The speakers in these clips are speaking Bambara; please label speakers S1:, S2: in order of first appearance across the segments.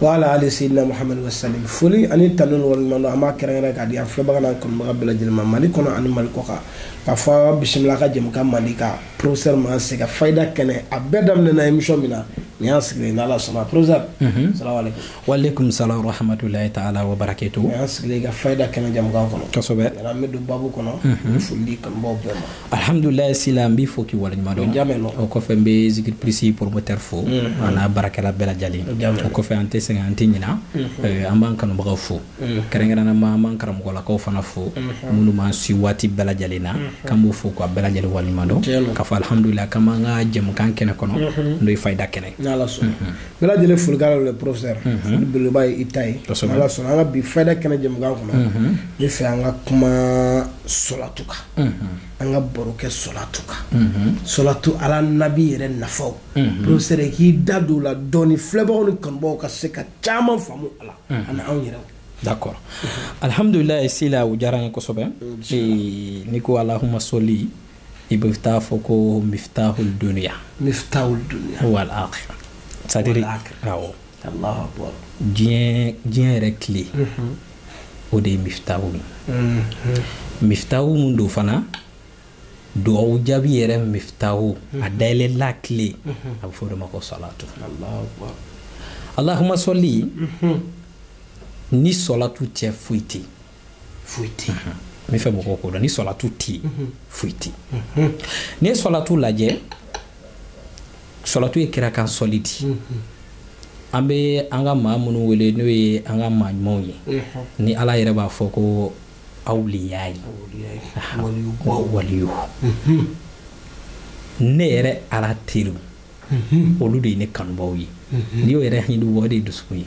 S1: wa ala ali seydina muhamadu wasalim foli ani tanu ni waleɲuman dɔn an b'a kɛrɛnkɛrɛn k'a di an filɛbaga n'an kanubaga bɛɛ lajɛlen ma mali kɔnɔ ani mali kɔ kan k'a fɔ aw bisimila ka jɛmukan mali ka professeur man se ka fayida kɛnɛ a bɛɛ daminɛna émission min na nin y'an sigilen n'ala sɔnna professeur mhm. salamaleykum waaleykum
S2: salam warahmatulahi taala wa barakatu nin y'an sigilen ka fayida
S1: kɛnɛ jɛmukan kɔnɔ kosɛbɛ an bɛ don babu
S2: kɔnɔ
S1: mhm. foli di kanubaw bɛɛ ma
S2: alhamdulilayi sila n b'i fo k'i waleɲumandɔn o kɔfɛ n bɛ zikiri pirisi promoteur fo mm-hmm. an'a baarakɛla bɛɛ lajɛlen o kɔfɛ an tɛ sɛgɛn an tɛ ɲina mm-hmm. eh, an b'an kanubagaw fo mm-hmm. kɛrɛnkɛrɛnnama an b'an karamɔgɔlakaw fana fo minnu b'an si waati bɛɛ lajɛlen na k'an b'u fo k'a bɛɛ lajɛlen waleɲumandɔn k'a fɔ alhamdulilayi k'an b'an ka jɛmukan kɛnɛ kɔnɔ n'o ye fayida
S1: kɛnɛ bɛɛ lajɛlen folikala le professeur foli belebeleba ye i ta ye ala sɔnna an ka bi fayida kɛnɛ jɛmukan kɔnɔ ne fɛ an ka kuma solatu kan an ka baro kɛ solatu kan solatu ala nabi yɛrɛ nafaw professeur k'i da don o la dɔɔni filɛbagaw ni kanubagaw ka se ka caman faamu a la ani anw yɛrɛw d'accord
S2: alhamdulilayi sila o diyara n ye kosɛbɛ n'i ko alahuma soli i bɛ taa fɔ ko miftahul duniya miftahul duniya wal akhira c'est à dire awɔ
S1: diɲɛ
S2: diɲɛ yɛrɛ clé o de ye mifitahu ye mhm. mifitahu mun don fana dugawu jaabi yɛrɛ mifitahu mhm. a dayɛlɛlan clé mhm. a bɛ fɔ o de ma ko salatu alahuma sɔli ni sɔlatu tɛ yen foyi tɛ yen foyi tɛ yen n b'a fɛ mɔgɔw k'o dɔn ni sɔlatu tɛ yen foyi tɛ yen n'i ye sɔlatu lajɛ sɔlatu ye kira kan sɔli di an bɛ an ka maa minnu wele n'o ye an ka maa ɲumanw ye ni ala yɛrɛ b'a fɔ ko awliya ye waliyu ne yɛrɛ ala teriw olu de ye ne kanubaw ye n'i y'o yɛrɛ hindu o de ye dusukun ye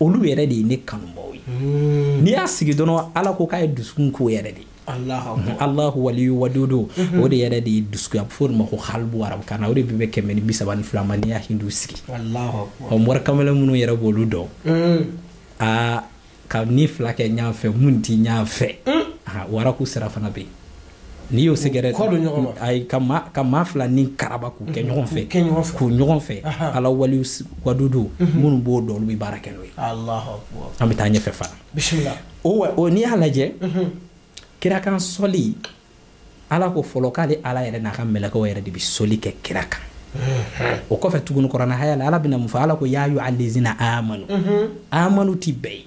S2: olu yɛrɛ de ye ne kanubaaw ye hmm. n'i y'a sigi dɔrɔn ala ko k'a ye dusukun ko yɛrɛ de alahu waliyu wadudu mhm. o de yɛrɛ de ye dusukun ye a bɛ fɔ o de ma ko kalibu arabukan na o de bɛ bɛn kɛmɛ ni bi saba ni fila ma n'i y'a hindu sigi
S1: ɔ morikamalen
S2: minnu yɛrɛ b'olu dɔn hmm. aa ka ni fila kɛ ɲɔgɔn fɛ minnu ti ɲɔgɔn fɛ hmm. waraku sira fana bɛ yen n'i y'o sɛgɛrɛ ayi ka maa ka maa fila ni karaba k'u kɛ ɲɔgɔn fɛ k'u ɲɔgɔn fɛ ala waliyu wadudu mhm. minnu b'o dɔn olu bɛ baara kɛ n'o ye
S1: an bɛ taa ɲɛfɛ
S2: fana
S1: o n'i y'a
S2: lajɛ mhm. kira kan sɔli ala ko fɔlɔ k'ale ala yɛrɛ n'a ka mɛlɛkɛw yɛrɛ de bɛ soli kɛ kira kan mhm. o kɔfɛ tuguni kuranɛ haya la ala bɛna mun fɔ ala ko ya ayuha lazina amanu amanu ti bɛɛ ye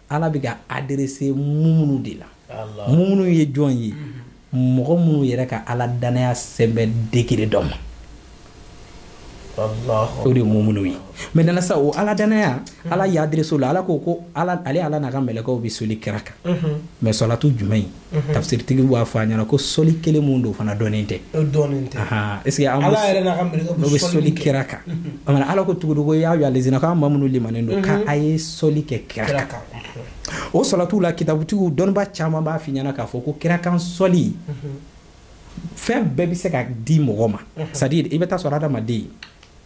S2: ala bɛ ka adrese mumunu de la mumunu ye jɔn ye mhm. mɔgɔ minnu yɛrɛ ka ala dannaya sɛbɛn degere dɔ ma
S1: o de mumunu
S2: ye mais dans ça o ala dannaya mhm. ala y'a adrese u la ala ko ko ale ala n'a ka mɛlɛkaw bɛ soli kira kan mais mhm. sɔlatu jumɛn ye Mhm. tafsiritigi b'a fɔ an ɲɛna ko soli kelen min don fana dɔnnen tɛ est-ce que ala yɛrɛ n'a ka
S1: mɛlɛkɛw bɛ soli kira
S2: kan mhm. ala ko tugu ko ya yalezina k'aw maa minnu limanen don ka mhm. a ye soli kɛ kira kan o sɔlatiw la kitabutigiw dɔnniba caman b'a f'i ɲɛna k'a fɔ ko kira kan sɔli fɛn bɛɛ bɛ se ka di mɔgɔ ma c'est à dire i bɛ t'a sɔrɔ adamaden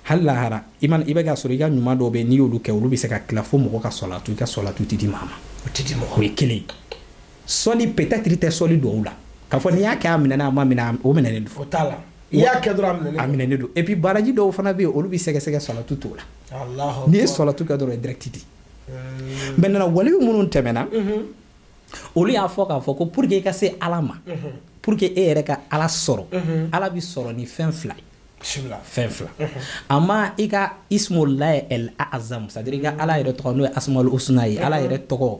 S2: hali lahara i man i bɛ ka sɔrɔ i ka ɲuman dɔw bɛ n'i y'olu kɛ olu bɛ se ka tila fo mɔgɔ ka sɔlatu i ka sɔlatu tɛ di maa ma o tɛ di mɔgɔ o ye kelen ye sɔli peut-être i tɛ sɔli duwawu la k'a fɔ n'i y'a kɛ a minɛna a ma minɛ o minɛnen don o t'a la i
S1: y'a kɛ dɔrɔn a minɛnen a minɛnen don et puis
S2: baraji dɔw fana bɛ yen olu bɛ sɛgɛsɛgɛ sɔlatu t'o la n'i ye sɔlatu kɛ dɔrɔn direct di hmm. maintenant waliyu minnu tɛmɛna mhm. olu y'a fɔ k'a fɔ ko pour que i ka se ala ma mhm. pour que e yɛrɛ ka ala sɔrɔ mhm. ala bɛ sɔrɔ ni fɛn fila ye fɛn fila a ma i ka ismulahi el azam c'est à dire i ka ala yɛrɛ tɔgɔ n'o ye asmaul husna ye ala yɛrɛ tɔgɔ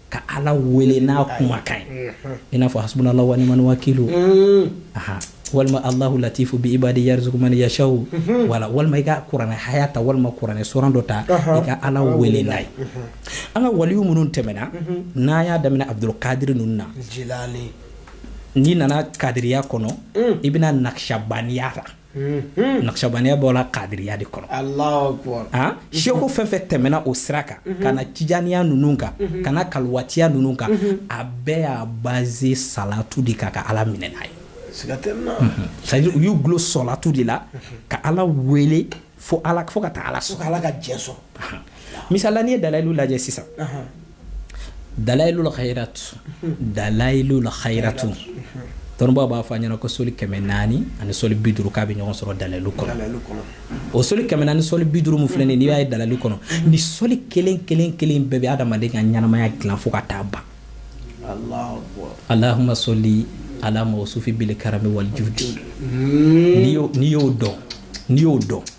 S2: ka ala wele n'a kumakan ye i n'a fɔ hasbunala wa nimal wakilu mm. aha walima allahu latifu bi ibadi yarzuku man yashaw mhm. wala walima i ka kuranɛ haya ta walima kuranɛ suran dɔ ta i ka ala wele n'a ye mhm. an ka waliyu minnu tɛmɛna mhm. n'an y'a daminɛ abdulkadiri ninnu na n'i nana kadiriya kɔnɔ mm. i bɛ na nakishabaniya la naqshabandiya bɔra kadiriya de kɔnɔ sɛku fɛn fɛn tɛmɛna o sira kan ka na tijaniya ninnu kan ka na kalwatiya ninnu kan a bɛɛ y'a baze salatu de kan ka ala minɛ n'a ye c'est à dire u y'u dulon sɔlatu de la ka ala wele fo ka taa ala sɔrɔ ala ka jɛn sɔrɔ misala n'i ye dalayilu lajɛ sisan dalayilul khayratu dalayilul khayratu dɔnnibaw b'a fɔ an ɲɛna ko soli kɛmɛ naani ani soli bi duuru k'a bɛ ɲɔgɔn sɔrɔ dalayilu kɔnɔ o soli kɛmɛ naani soli bi duuru min filɛ nin ye n'i y'a ye dalayilu kɔnɔ nin soli kelen kelen kelen bɛɛ bɛ adamaden ka ɲɛnamaya dilan fo ka taa ban alahuma soli ala mawsufi bil karami wal judi n'i y'o dɔn n'i y'o dɔn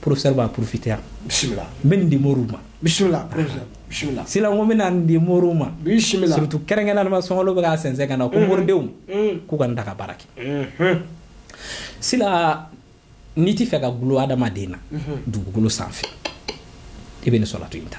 S2: professeur b'a profiter yan bisimila n bɛ nin di moriw ma bisimila professeur bisimila sila n ko n bɛna nin di moriw ma bisimila surtout kɛrɛnkɛrɛnnenma sunkalo bɛ ka sɛnsɛn ka na ko moridenw k'u ka nin ta ka baara kɛ sila n'i t'a fɛ ka gulo adamaden na dugukolo sanfɛ i bɛ nin sɔlatu in ta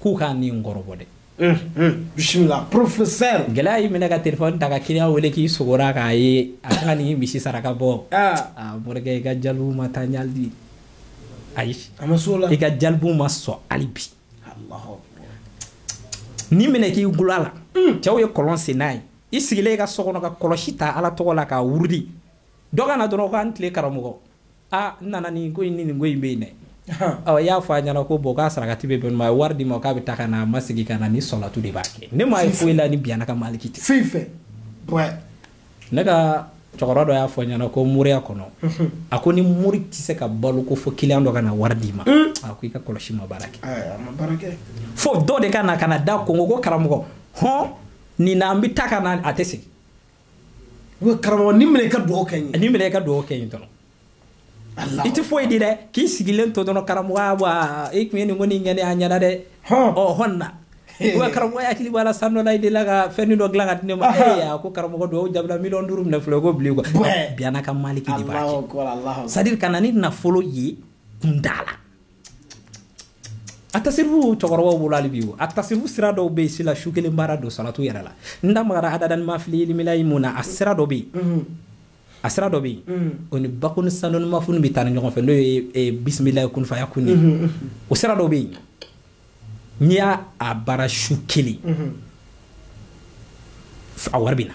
S2: k'u ka nin kɔrɔbɔ dɛ bisimila professeur gɛlɛya y'i minɛ ka telefɔni ta ka kiliyan wele k'i sugora k'a ye a ka ni misi saraka bɔ a morikɛ i ka jalibu ma taa ɲali di ayi i ka jalibu ma sɔn hali bi nin minɛ k'i gulo a la cɛw ye kɔlɔn sen n'a ye i sigilen i ka so kɔnɔ ka kɔlɔsi ta ala tɔgɔ la k'a wurudi dɔ ka na dɔrɔn k'an tile karamɔgɔ aa n nana nin ko in ni nin ko in bɛ yen dɛ ɔ i y'a fɔ a ɲɛna ko bon k'a sarakati bɛ bɛn ma a ye wari di ma k'a bɛ taa ka na a ma segin ka na nin sɔlatu de b'a kɛ ne m'a ye foyi la ni biyana ka maliki tɛ foyi fɛ ne ka cɛkɔrɔba dɔ y'a fɔ n ɲɛna ko moriya kɔnɔ a ko ni mori tɛ se ka balo ko fo kiliyan dɔ ka na wari d'i ma a ko i ka kɔlɔsi ma baara kɛ fo dɔ de ka na ka na da kɔnkɔn ko karamɔgɔ hɔn nin na an bɛ taa ka na a tɛ segin karamɔgɔ nin minɛ i ka dugawu kɛ n ye nin minɛ i ka dugawu kɛ n ye dɔrɔn i tɛ foyi di dɛ k'i sigilen to dɔrɔn karamɔgɔ wa i tun ye nin ko nin kɛ n ye a ɲɛna dɛ ɔ hɔn na wa karamɔgɔ hakili b'a la san dɔ la i delila ka fɛn dɔ dilan ka di ne ma ee a ko karamɔgɔ dugawu jabila miliyɔn duuru minɛ filɛ ko bilen quoi biana ka maliki de b'a kɛ c'est-à-dire ka na ni nafolo ye kunda la a tasirifu cɛkɔrɔbaw bolo hali bi o a tasirifu sira dɔw bɛ yen sila su kelen baara don salatu yɛrɛ la n da magara adadani ma fili ilimilayi min na a sira dɔ bɛ yen mm-hmm. a sira dɔ bɛ yen mm-hmm. o ni bakuni sanoni mafuni bɛ taa ni ɲɔgɔn fɛ n'o ye e, bisimilayi kun fayakun ye mm-hmm. o sira dɔ bɛ yen n'i y'a a baara su kelen a wari bɛ na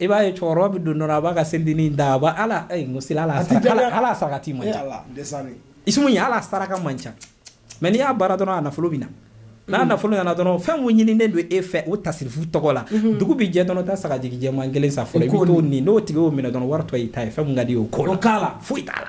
S2: i b'a ye cɛkɔrɔba bɛ don dɔrɔn a b'a ka selideni da a b'a ala ee n ko seli ala ala sarakati man eh, ca isimu ye a la saraka man ca mais n'i y'a baara dɔrɔn a nafolo bɛ na n'a nafolo nana dɔrɔn fɛn min ɲininen don e fɛ o tasirifu tɔgɔ la mhm. dugu bɛ jɛ dɔrɔn taa sagajigi jɛman kelen san fɔlɔ i bɛ t'o ni n'o tigi y'o minɛ dɔrɔn wari tɔ y'i ta ye fɛn min ka d'i ye o k'o la foyi t'a la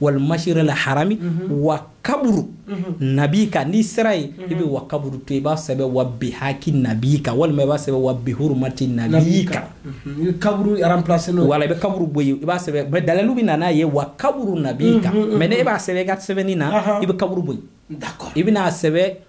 S2: wal masiril harami mhm. wa kaburu mhm. nabika n'i sera yen i bɛ wa kaburu to i b'a sɛbɛn wa bihaki nabika walima i b'a sɛbɛn wa bihurumati nabika
S1: kaburu remplacer n'o wala i bɛ kaburu bɔ yen i
S2: b'a sɛbɛn mais dalilu bɛ na n'a ye wa kaburu nabika mais ne e b'a sɛbɛn i ka sɛbɛnni na i bɛ kaburu bɔ yen i bɛna a sɛbɛn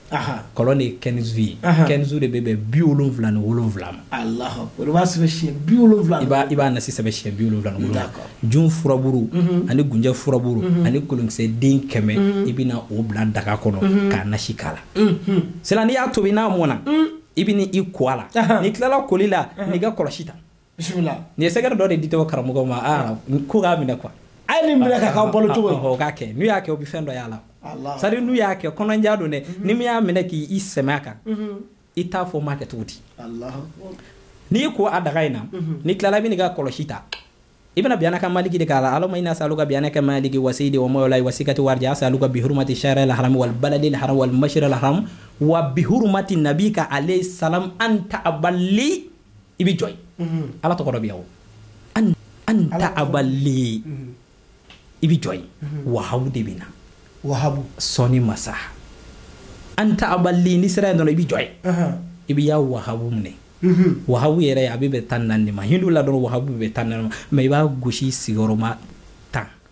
S2: kɔlɔn de ye kɛnizu ye kɛnizu de bɛ bɛn bi wolonwula ni
S1: wolonwula ma i b'a nasi sɛbɛn
S2: siɲɛ bi wolonwula ni wolonwula jun furaburu mhm. ani gunjɛ furaburu mhm. ani kolonkisɛ den kɛmɛ mhm. i bɛna o bila daga kɔnɔ k'a nasi k'a la sila n'i y'a tobi n'a mɔna i bɛna i ko a la n'i tilala koli la n'i ka kɔlɔsi ta bisimila nin
S1: ye sɛgɛrɛ dɔ de
S2: di tɔgɔ karamɔgɔ ma a ko k'a minɛ quoi a ye nin minɛ k'a
S1: k'aw balo cogo ye o k'a kɛ n'u y'a kɛ o
S2: bɛ fɛn dɔ y'a la sari n'u y'a kɛ kɔnɔnja don dɛ ni min y'a minɛ k'i sɛmɛ a kan i t'a fɔ ma kɛ cogo di n'i ko a daga in na n'i tilala i bɛ n'i ka kɔlɔsi ta i bɛna biyana ka maliki de kalan allahumma ini asaluka biyana ka maliki wa sayidi wa mawla wa sikati wa raja asaluka bihurmati shahri al haram wal baladi al haram wal mashra al haram wa bihurmati nabika alayhi salam anta abali i bɛ jɔ yen ala tɔgɔ dɔ bɛ yan o an ta abali i bɛ jɔ yen wahabu de bɛ na wahabu sɔnni masa an ta abali n'i sera yen dɔrɔn i bɛ jɔ yen i bɛ yaa wahabu minɛ wahabu yɛrɛ a bɛ bɛn tan naani ma hindu la dɔrɔn wahabu bɛ tan naani ma mais i b'a gosi sigiyɔrɔma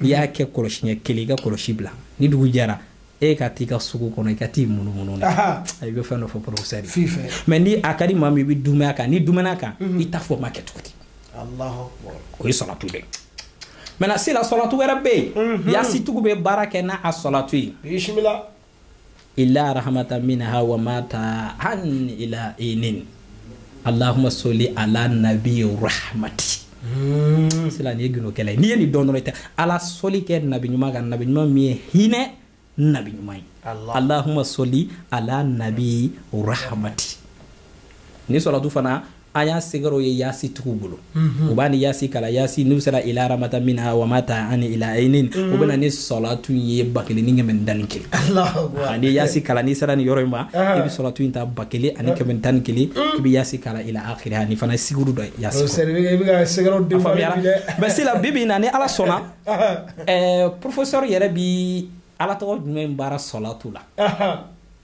S2: i y'a kɛ kɔlɔsiɲɛ kelen i ka kɔlɔsi bila ni dugu jɛra e ka t'i ka sugu kɔnɔ i ka t'i munumunu na i bɛ fɛn dɔ fɔ professeur mais ni a ka di maa min ye i bɛ dumɛ a kan n'i dumɛna a kan mhm. i t'a fɔ ma kɛ cogo
S1: di o ye sɔlatu
S2: de maintenant sila sɔlatu wɛrɛ bɛ yen mhm. yasi tigiw bɛ baara kɛ n'a sɔlatu ye illa rahmatan minha wa mata'an ila hinin allahumma soli ala nabi rahmati hmm. sila nin ye gundo kelen ye n'i ye nin dɔn dɔrɔn ala soli kɛ nabi ɲuman kan nabi ɲuman min ye hinɛ nabi ɲuman ye allahumma soli ala nabi rahmati nin sɔlatu fana a y'a sɛgɛrɛw ye yaasi tigiw bolo mhm. u b'a ni yaasi kalan yaasi n'u sera illa rahmatan minna wa mata'an ila hinin mhm. u bɛna ni sɔlatu ye ba kelen ni kɛmɛ ni tan ni kelen ani yaasi kalan n'i sera nin yɔrɔ in ma i bɛ sɔlatu in ta ba kelen ani kɛmɛ ni tan ni kelen i bɛ yaasi kalan ila akiriha nin fana sɛgɛrɛ don yaasi mais sila bi bi na ni ala sɔnna professeur yɛrɛ bi ala tɔgɔ jumɛn baara sɔlatu la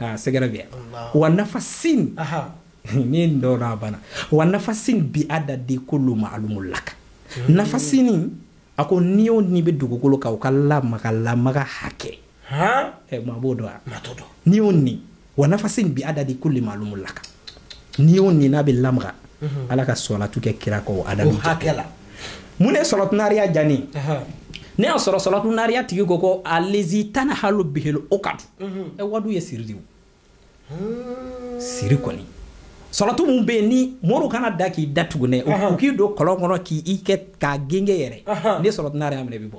S2: ah, c'est grave wa nafasin n'i ye nin dɔn a banna wa nafasin bi adadi kulli maalumin laka hmm. nafasin a ko ni o ni bɛ dugukolo kan u ka lamaga lamaga hakɛ maa b'o dɔn wa ni o ni wa nafasin bi adadi kulli maalumin laka ni o ni n'a bɛ lamaga ala ka sɔlatu kɛ kira kan o adadu hakɛ la mun ne sɔlatu naariya jani ne y'a sɔrɔ sɔlatu naariya tigi ko ko alezi tanhalu bihil ukadu wadu ye siri de o hmm. siri kɔni sɔlatu min bɛ yen ni moriw kana da k'i da tugunɛ u k'i don kɔlɔn kɔnɔ k'i kɛ k'a gengen yɛrɛ ne sɔlatu naariya minɛ bɛ bɔ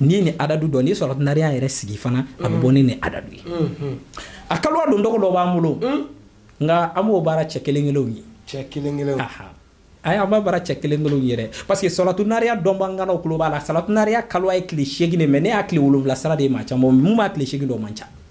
S2: n'i ni adadu dɔn ni salatu nariya yɛrɛ sigi fana a bɛ bɔ ni ni adadu ye a kalowa don dɔgɔ dɔ b'an bolo nka an b'o baara cɛ kelen kelenw ye cɛ kelen kelenw ayi an b'a baara cɛ kelen kelenw ye dɛ parce que salatu nariya dɔnbagaw tulo b'a la salatu nariya kalowa ye tile seegin de mais ne y'a tile wolonwula sara de ye maa caman min b'a tile seegin dɔn man ca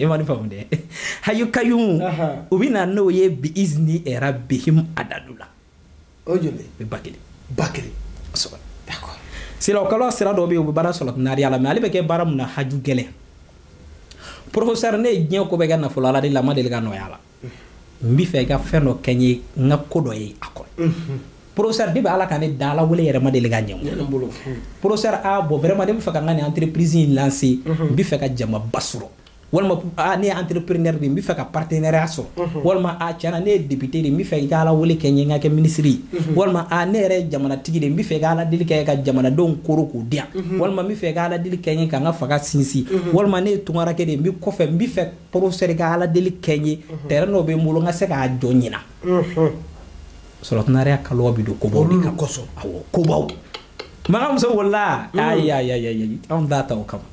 S2: i ma nin faamu dɛ hayu kayumu u bɛ na n'o ye bi izni rabbihim adadu la o joli
S1: bɛ ba kelen ba kelen kosɛbɛ d'accord sira o
S2: kalowa sira dɔ bɛ yen o bɛ baara salatu nariya la mais ale bɛ kɛ baara mun na haju gɛlɛn professeur ne ye diɲɛ ko bɛɛ kɛ nafolo ala de la ma deli ka nɔgɔya la n b'i fɛ i ka fɛn dɔ kɛ n ye n ka ko dɔ ye a kɔnɔ professeur de bɛ ala ka ne da ala wele yɛrɛ ma deli ka ɲɛ bolo professeur a bon vraiment ne bɛ fɛ ka n ka nin entreprise in lancer n bɛ fɛ ka jamaba sɔrɔ walima a ne ye entrepreneur de ye n bɛ fɛ ka partenariat sɔrɔ walima a tiɲɛna ne ye député de n bɛ fɛ i ka ala wele kɛ n ye n ka kɛ ministre ye walima a ne yɛrɛ ye jamanatigi de n bɛ fɛ i ka ala deli kɛ ka jamanadenw koro k'u di yan walima n bɛ fɛ i ka ala deli kɛ n ye ka n ka fanga sinsin walima ne ye tunkarankɛ de ye n bɛ kɔfɛ n bɛ fɛ professeur i ka ala deli kɛ n ye mhm. terrain dɔ bɛ n bolo n ka se k'a jɔ ɲinan mhm. salatu nariya kalowa bɛ don kobaw de kan kosɔn awɔ kobaw maga muso wolola mhm. ayi ayi ayi ayi anw t'a ta o kama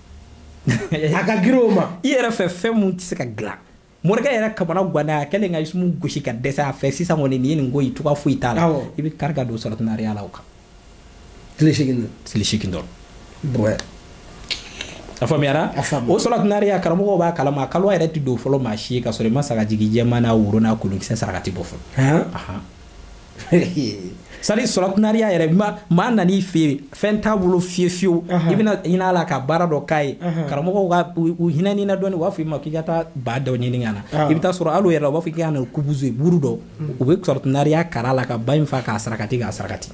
S1: a ka girin o ma i yɛrɛ fɛ fɛn mun
S2: tɛ se ka dilan morikɛ yɛrɛ kamanaganna a kɛlen ka isumu gosi ka dɛsɛ a fɛ sisan kɔni nin ye nin ko ye cogoya foyi t'a la i bɛ kari ka don salatu nariya la o kan
S1: tile seegin don tile seegin
S2: dɔrɔn bɔɛ a faamuyara o salatu nariya karamɔgɔw b'a kalama kalowa yɛrɛ tɛ don fɔlɔ maa si ye ka sɔrɔ i ma sagajigi jɛman n'a woro n'a kolonkisɛ sarakati bɔ fɔlɔ sari salatu nariya yɛrɛ maa nan'i fɛ yen fɛn t'a bolo fiye fiyewu i bɛna hin'a la ka baara dɔ k'a ye karamɔgɔw ka u hinɛn'i na dɔɔnin u b'a fɔ i ma k'i ka taa ba dɔ ɲini ka na i bɛ t'a sɔrɔ hali o yɛrɛ la u b'a fɔ k'i ka na kubuzu buru dɔ u bɛ salatu nariya kara la ka ba in fa k'a sarakati k'a sarakati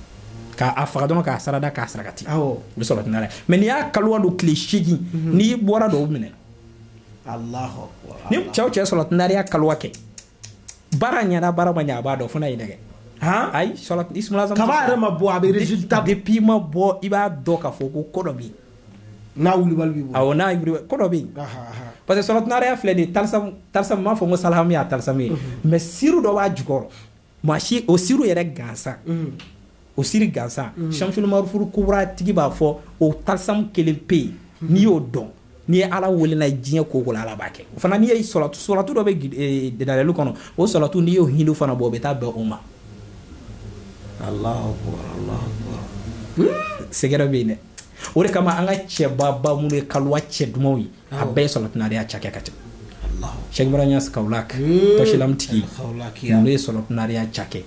S2: k'a faga dɔrɔn k'a sarada k'a sarakati u bɛ salatu nariya mais n'i y'a kaluwa don tile seegin mhm. n'i bɔra dɔw minɛ ni cɛw cɛ salatu nariya kaluwa kɛ baara ɲɛna baara ma ɲɛ a b'a dɔn fo n'a ye nɛgɛ ayi sɔrɔ isumala kaba yɛrɛ ma bɔ a bɛ
S1: résultat depuis i ma bɔ
S2: i b'a dɔn k'a fɔ ko ko dɔ bɛ yen n'a
S1: wulibali b'i bolo awɔ n'a wulibali ko dɔ bɛ
S2: yen parce que salatu nariya filɛ nin ye talisamu talisamu m'a fɔ n ko salahamu y'a talisamu ye mais siru dɔ b'a jukɔrɔ maa si o siru yɛrɛ gansan o siri gansan shamsulu maarifulu kubura tigi b'a fɔ o talisamu kelen pe yen n'i y'o dɔn n'i ye ala wel'a la diɲɛ ko o ko la ala b'a kɛ o fana n'i ye salatu salatu dɔ bɛ dalayilu kɔnɔ o salatu n'i y'o hindu fana bɔ o bɛ taa bɛn o ma alahu
S1: akubar alahu akubar
S2: secret bɛ yen dɛ o de kama an ka cɛbaba minnu ye kaluwa cɛ dumanw ye a bɛɛ ye salatu nariya cakɛ ka tɛmɛ sɛki barham ɲas kawulak tɔsilamu tigi ninnu ye salatu nariya cakɛ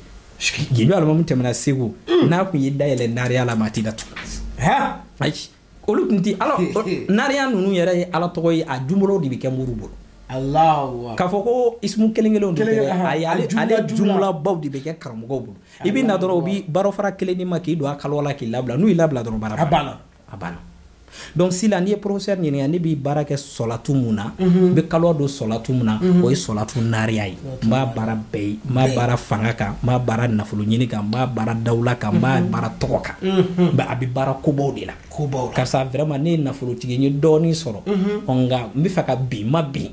S2: gindo alimamu tɛmɛna segu hmm. n'a kun ye dayɛlɛ nariya la maa ti datugu ayi olu tun ti ala nariya ninnu yɛrɛ ye ala tɔgɔ ye a jumlaw de bɛ kɛ mori bolo k'a fɔ ko isimu kelen kelenw de ayi ale jumlabaw de bɛ kɛ karamɔgɔw bolo i bɛ na dɔrɔn u bɛ baara fara kelen d'i ma k'i don a kaliwa la k'i labila n'u y'i labila dɔrɔn baara a banna a banna donc sisan n'i ye professeur ɲininka ne bɛ baara kɛ sɔlatu min na n bɛ kaliwa don sɔlatu min na o ye sɔlatu nariya ye n b'a baara bɛɛ ye n b'a baara fanga kan n b'a baara nafolo ɲini kan n b'a baara dawula kan n b'a baara tɔgɔ kan nka a bɛ baara kobaw de la ko karisa vraiment ne ye nafolotigiya dɔɔnin sɔrɔ nka n bɛ fɛ ka bin n ma bin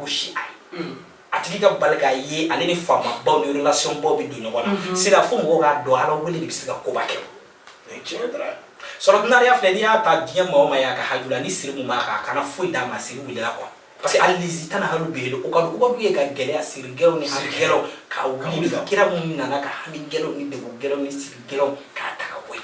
S2: gosi a ye a tigi ka bali k'a ye ale ni faamabaw ni relasiyɔnbaw bɛ don ɲɔgɔn na sisan fo mɔgɔw k'a dɔn ala wele de bɛ se ka koba kɛ sɔlatu nariya filɛ n'i y'a ta diɲɛ maa o maa y'a ka haju la ni siri min b'a kan a kana foyi d'a ma siri wulila quoi parce que alizi tanahalu bihili ukadu ye ka gɛlɛya siri gɛlɛnw ni hami gɛlɛnw ka wuli kira min nana ka hami gɛlɛnw ni degun gɛlɛnw ni siri gɛlɛnw k'a ta ka bɔ yen